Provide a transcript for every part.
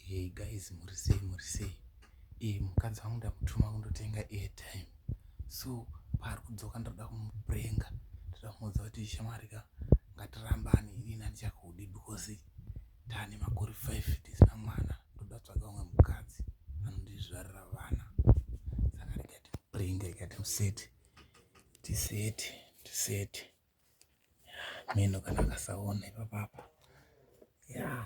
Hey guys muri sei muri sei? Eh mukadzi wangu ndakutuma kundotenga airtime. So paari kudzoka ndoda kumuprenga. Ndoda kumuudza kuti shamwari ka ngatirambane ini nandichakudi because tane makore 5 tisina mwana. Ndoda tsvaga umwe mukadzi anondizvarira vana. Saka ndikati prenga ikati museti. Tiseti, tiseti. Meno kana akasaona ipapapa yaa.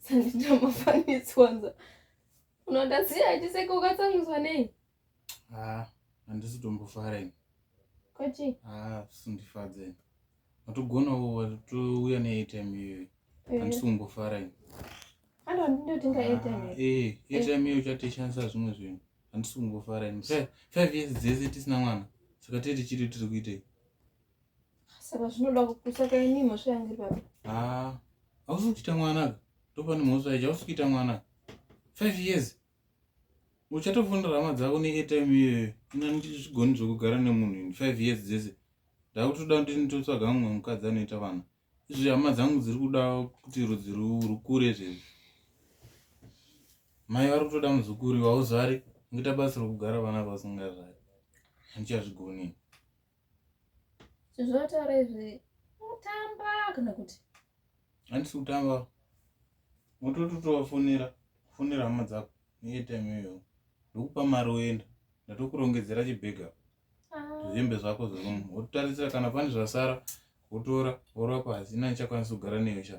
sandita mafanitswanza unoda siya achiseka ukatsamwiswa nei haa handisi tombofara ini kwachi haa sindifadze watogonawo watouya neatm iyoyo eh. handisi kumbofara ini ando ndindotenga atm ah, eh, eh atm iyo uchatoshandisa zvimwe zvinhu handisi kumbofara ini five years dzese tisina mwana saka tee tichiri tiri kuitei saka zvinoda kusaka ini mhosva yangu iri papi ah, hausi kuchita mwanaka ndopane mhosva yacho hausi kuita mwanaka five years uchatofonera hama dzako neatime iyoyo ina ndizvigoni zvekugara nemunhu in five years dzese ndakutoda kuti nditotsvaga mumwe mukadzi anoita vana izvi hama dzangu dziri kuda kuti rudzi rukure zvezvi mai vari kutoda muzukuri wauzvari ngoita basa rokugara vana vasingazvari handichazvigoni Zvozvataura izvi mutamba kana kuti handisi kutamba motototovafonera fonera hama dzako neetime iyoyo ndokupa mari oenda ndatokurongedzera chibhega ah. zvembe zvako zverumu wototarisira kana pane zvasara wotora worwa pasi ina ndichakwanisa kugara neyo sha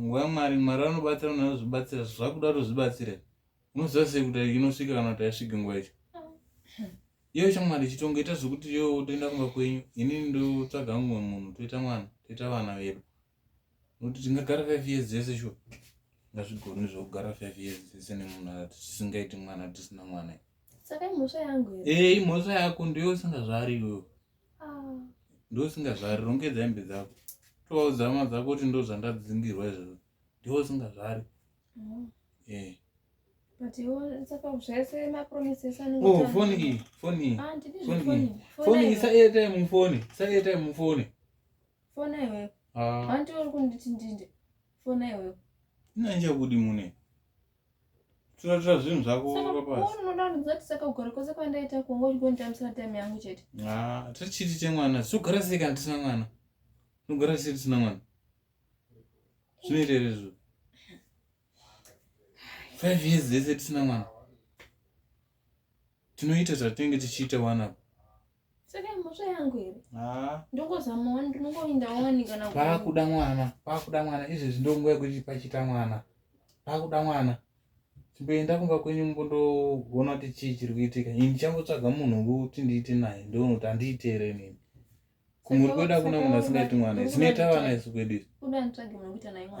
nguva yamwari mwari anobatsira munhu anozvibatsira zvakuda kuti uzvibatsire unoziva sei kuti inosvika kana kuti aisvike nguva yacho iyo shamwari chitongo ita zvekuti yo toenda kumba kwenyu ini ndotsvaga mumwe munhu toita mwana toita vana vedu Kuti tingagara five years dzese sho ngazvigoni zvokugara five years dzese nemunhu tisingaiti mwana tisina mwana saka imhosva yangu ee eh, imhosva yako ndiyo usingazvari iwewe ah. ndiyo usingazvari rongedza hembe dzako tovauzama dzako kuti ndo zvandadzingirwa izvozvo ndiyo usingazvari oh. ee eh. Oh, foni iyi foni iyi ah, foni iyi foni iyi sa airtime mufoni sa airtime mufoni fona iwewe ah. hanti uri kunditi ndinde fona iwewe ndinanje kudi mune tiratura zvinhu zvako unoda kundiudza kuti saka kugara kwese kwandaita kunge uchigonditambisira time yangu chete ah, tichiti chemwana togara sei kana tisina mwana tinogara sei tisina mwana zvinoita here izvo five years dzese tisina mwana tinoita zvatinenge tichiita wani apa saka mhosva yangu here ah. ndongozama wani ndinongoinda wani kana pakuda mwana pakuda mwana izvezvi ndonguva yekuti pachita mwana pakuda mwana chimboenda kumba kwenyu mbondoona kuti chii chiri kuitika ini ndichangotsvaga munhu wekuti ndiite naye ndonoti handiiteere nini kumuri kwedu akuna munhu asingaiti mwana zinoita vana isu kwedu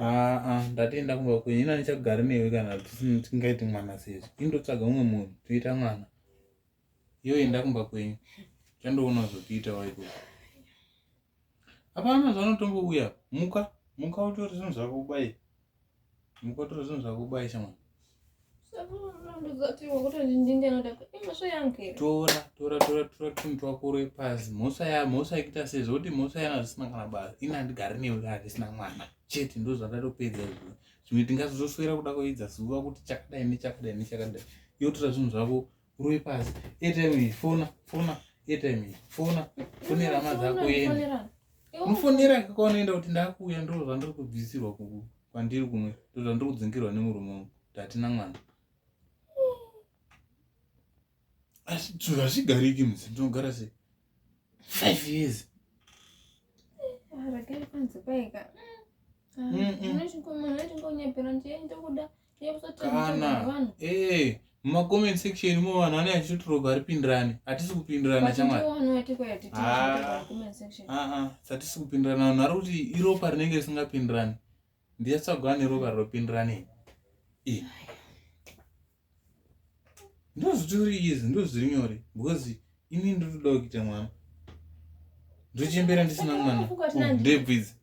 aa ndatienda kumba kwenyu ina ndichagari newe kana tisingaiti mwana sezvo indotsvaga umwe munhu toita mwana iyo enda kumba kwenyu chandoona zvotiita waiko apana zvanotombouya muka muka utori zvinhu zvako kubai Mukotoro zvinhu zvakubai shamwari. Tora tora tora tora tunhu twako uri pasi. Mhosva ya mhosva ikuita sei zvokuti mhosva yana zvisina kana basa. Ini handigari newe kana ndisina mwana. Chete ndozvandatopedza izvo. Zvimwe tingazozoswera kuda kuidza zuva kuti chakadai nechakadai nechakadai. Yotora zvinhu zvako ruri pasi airtime iyi fona fona airtime iyi fona fonera hama dzako uende unofonera kwaunoenda kuti ndakuuya ndo zvandiri kubvisirwa kwandiri kumwe ndo zvandiri kudzingerwa nemurume wangu ndatina mwana asi zvinhu hazvigariki mzi ndinogara sei five years zvakaipanzi kwaika unochikomana chingonyeperwa ndiye ndokuda mm -mm. kana eh muma comment section mo vanhu vane achitotoroga ari pindirane hatisi kupindirana chamwari ah, ah, ah, hatisi kupindirana vanhu vari kuti iropa rinenge risingapindirane ndiyatsvagwa ane ropa rinopindirane eh. ndozvitori izi ndozviri nyore because ini ndiri kudawo kuita mwana ndochembera ndisina mwana oh, ndebvudzi